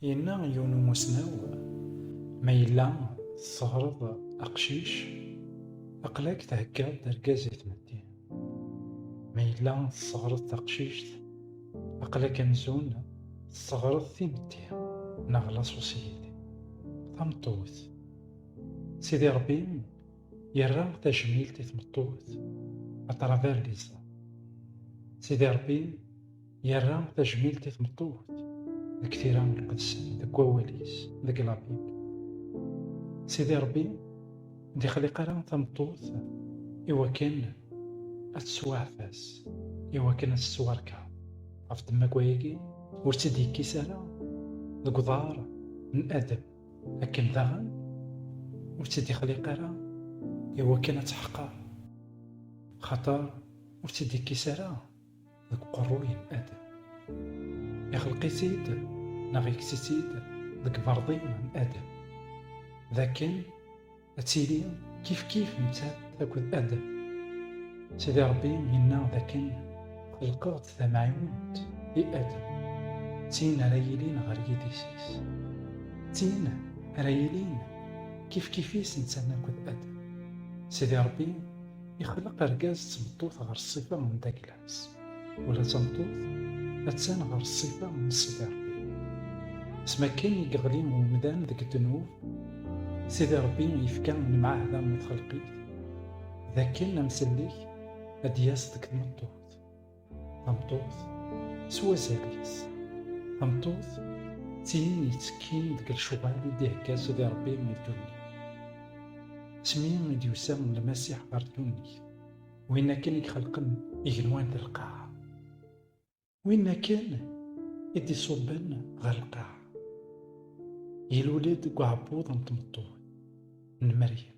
Yenna yiwen umussnaw, ma yella tessehreḍ aqcic, aql-ak theggaḍ-d argaz i tmetti. Ma yella tessehreḍ taqcict, aql-ak amzun tessehreḍ timetti neɣ laṣuṣyit, tameṭṭut. Sidi Ṛebbi yerra tajmilt i tmeṭṭut, à travers les hommes. Sidi Ṛebbi Yerra tajmilt i tmeṭṭut deg tira iqedsen deg wawal-is deg labib. Sidi Ṛebbi d-ixliq ara tameṭṭut i wakken ad tettwaɛfas, i wakken ad tettwarka. Ɣef ddemma n wayagi, ur tt-id-yekkis ara deg uḍar n Adem, akken daɣen ur tt-id-ixliq ara i wakken ad teḥqer, axaṭer ur tt-id-ikkis ara deg uqerru yemma-d ixelq-itt-id neɣ yekkes-itt-id deg berḍi n Adam d akken ad tili kifkif nettat akked Adam Sidi Ṛebbi yenna d akken xelqeɣ-d tamɛiwent i Adam d tin ara yilin ɣer yidis-is d tin ara yilin kifkif-is nettat akked Adam Sidi Ṛebbi Ixleq argaz d tmeṭṭut ɣer ṣṣifa n Daglas, ula d tameṭṭut attan ɣer ṣṣifa n Sidi Ṛebbi. S makken i yeɣli umdan deg ddnub, Sidi Ṛebbi yefka lemɛahda i txelqit d akken amsellek ad d-yas deg tmeṭṭut. Tameṭṭut s wazal-is. Tameṭṭut d tin yettekkin deg lecɣal i d-ihegga Sidi Ṛebbi i ddunit. Asmi i d-yusa Lmasiḥ ɣer ddunit, win akken i ixelqen igenwan d lqaɛa. Win akken i d-iṣubben ɣer lqaɛa. Ilul-d deg uɛebbuḍ n tmeṭṭut n Meryem.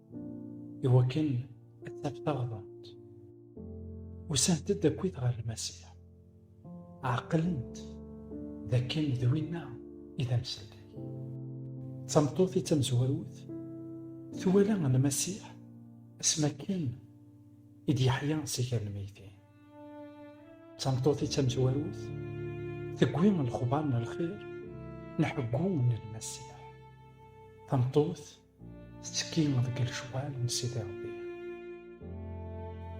Iwakken ad taf taɣdemt. Usant-d akkit ɣer Lmasiḥ. Ɛeqlent d akken d winna i d amsalay. D tameṭṭut i d tamezwarut, twala Lmasiḥ asmi akken i d-yeḥya si gar lmeyytin. D tameṭṭut i d tamezwarut, tewwi lexbar n lxir n ḥeggu n Lmasiḥ. Tameṭṭut tettekki deg lecɣal n Sidi Ṛebbi.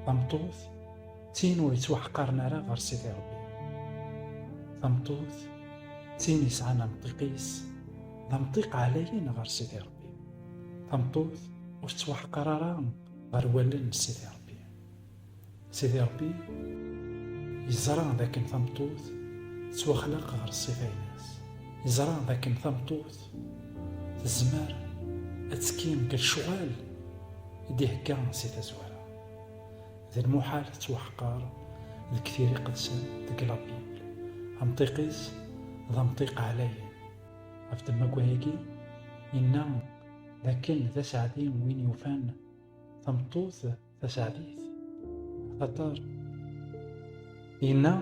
Tameṭṭut d tin ur yettwaḥqaren ara ɣer Sidi Ṛebbi. Tameṭṭut d tin yesɛan amṭiq-is d amṭiq ɛlayen ɣer Sidi Ṛebbi. Tameṭṭut ur tettwaḥqar ara ɣer wallen n Sidi Ṛebbi. Sidi Ṛebbi yeẓra d akken tameṭṭut tettwaxlaq ɣer ṣṣifa-ines. Yeẓra d akken tameṭṭut tezmer ad tekki deg lecɣal i d-ihegga si tazwara. D lmuḥal tettwaḥqer deg tira iqedsen deg la Bible. Amṭiq-is d amṭiq ɛlayen. Ɣef temmagwa-agi, yenna d akken d aseɛdi win yufan tameṭṭut, taseɛdit axaṭer yenna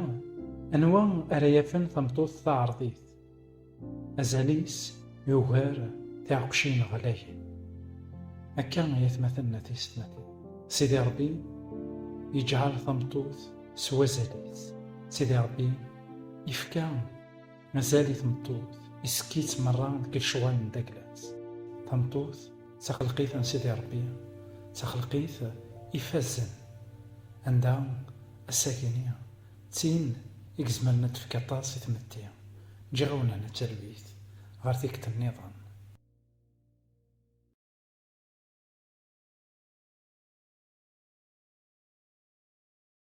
anwa ara yafen tameṭṭut taɛerḍit azal-is yugar tiɛeqcin ɣlayen akka i atmaten n atistmatin sidi rebbi yeǧɛel tameṭṭut s wazal-is sidi rebbi yefka mazal i tmeṭṭut isekki-tt merra deg lecɣal n dagla-s tameṭṭut d taxelqit n Sidi Ṛebbi, d taxelqit ifazen, anda assagi-nni d tin i izemren ad tefk aṭas i tmetti. Ǧǧiɣ-awen hna talwit ɣer tikkelt nniḍen.